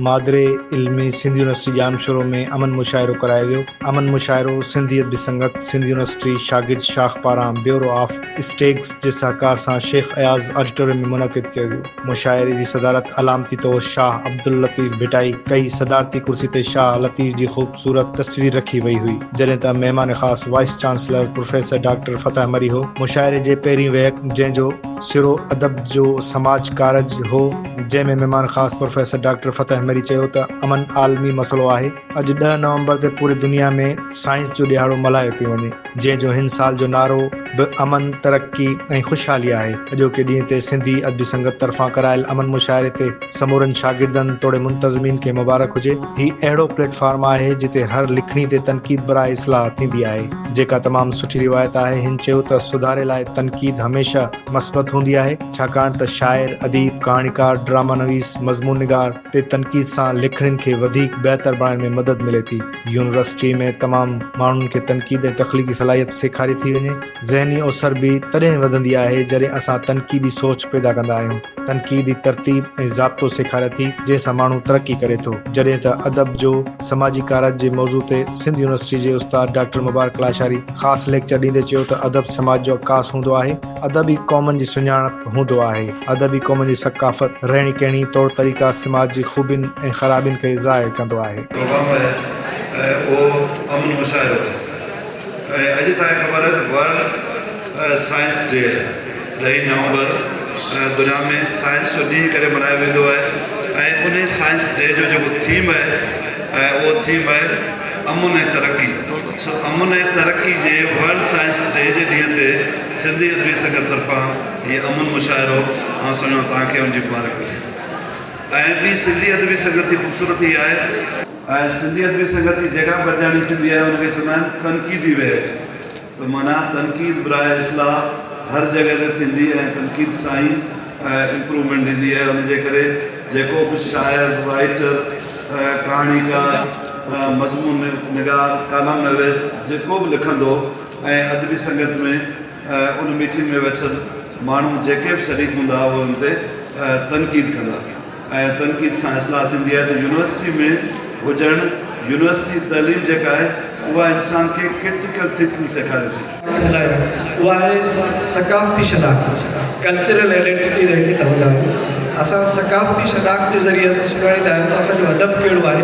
مادري علمي سنڌ يونيورسٽي ڄامشورو ۾ امن مشاعرو ڪرايو ويو امن مشاعرو سنڌي ادبي سنگت سنڌ يونيورسٽي شاگرد شاخ پاران بيورو آف اسٽيگس جي سهڪار سان شيخ اياز آڊيٽوريم ۾ منعقد ڪيو ويو مشاعري جي صدارت علامتي طور شاهه عبداللطيف ڀٽائي ڪئي صدارتي ڪرسي تي شاهه لطيف جي خوبصورت تصوير رکي وئي هئي جڏهن ته مهمان خاص vice chancellor professor doctor Fateh Marri هو مشاعري جي پهرين ويهڪ جنهن جو سرو ادب جو سماج ڪارج هو. جنهن ۾ مهمان خاص پروفيسر ڊاڪٽر فتح مري چيو ته امن عالمي مسئلو آهي، اڄ ڏهه نومبر تي پوري دنيا ۾ سائنس جو ڏيهاڙو ملهايو پيو وڃي، جنهن جو هن سال جو نعرو به امن، ترقي ۽ خوشحالي آهي، اڄوڪي ڏينهن تي سنڌي ادبي سنگت طرفان ڪرايل امن مشاعري تي سمورن شاگردن توڙي منتظمين کي مبارڪ هجي، هي اهڙو پليٽ فارم آهي جتي هر لکڻي تي تنقيد براء اصلاح ٿيندي آهي، جيڪا تمام سٺي روايت آهي، هن چيو ته سڌاري لاء تنقيد هميشه مثبت هوندي آهي، ڇاڪاڻ ته شاعر، اديب، ڪهاڻيڪار، ڊراما نويس، مضمون نگار تي تنقيد سان لکڻين کي وڌيڪ بهتر بڻائڻ ۾ مدد ملي ٿي. يونيورسٽيء ۾ تمام ماڻهن کي تنقيد ۽ تخليقي صلاحيت سيکاري ٿي وڃي. ذهني اوسر به تڏهن وڌندي آهي، جڏهن اسان تنقيدي سوچ پيدا ڪندا آهيون. تنقيدي ترتيب ۽ ضابطو سيکاري ٿي، جنهن سان ماڻهو ترقي ڪري ٿو، جڏهن ته ادب جو سماجي ڪارج جي موضوع تي سنڌ يونيورسٽي جي استاد ڊاڪٽر مبارڪ لاشاري خاص ليڪچر ڏيندي چيو ته ادب سماج جو عڪاس هوندو آهي، ادب ئي قومن جي سڃاڻپ هوندو آهي، ادب ئي قومن جي ثقافت، رهڻي ڪهڻي، طور طريقا، سماج جي خوبين ۽ خرابين کي ظاهر ڪندو آهي. پروگرام آهي ۽ اهو امن مشاعرو آهي. ۽ اڄ تائين خبر آهي ته ورلڊ سائنس ڊي ڏهين نومبر دنيا ۾ سائنس جو ڏينهن ڪري ملهايو ويندو آهي ۽ انهي سائنس ڊي جو جيڪو ٿيم آهي اهو ٿيم آهي امن ۽ ترقي سو امن ۽ ترقي جي ورلڊ سائنس ڊي جي ڏينهن تي سنڌي ادبي سنگت طرفان هي امن مشاعرو آئون سمجهان توهان کي ان جي مبارڪ هجي ۽ ٻي سنڌي ادبي سنگت جي خوبصورتي آهي ۽ سنڌي ادبي سنگت جي جيڪا به ادياڻي ٿيندي آهي ان کي چوندا آهن تنقيدي ويل ته معنيٰ تنقيد برائي اصلاح هر جڳهه تي ٿيندي ۽ تنقيد سان ئي امپروومينٽ ايندي آهي ان جي ڪري جيڪو به شاعر رائيٽر ڪهاڻيڪار مضمون نگار ڪالم نويس جيڪو به لکندو ۽ ادبي سنگت ۾ ۽ ان ميٽنگ ۾ ويٺل ماڻهو جيڪي به شريڪ هوندا اهي ان تي تنقيد ڪندا ۽ تنقيد سان اصلاح ٿيندي آهي ته يونيورسٽي ۾ هجڻ يونيورسٽي جي تعليم جيڪا آهي اها انسان کي ڪرٽيڪل ٿنڪنگ سيکاري ٿي. شناخت اها آهي ثقافتي شناخت، Cultural Identity، جنهن کي چوندا آهيون. اسان ثقافتي شناخت جي ذريعي اسان سڃاڻيندا آهيون ته اسان جو ادب ڪهڙو آهي.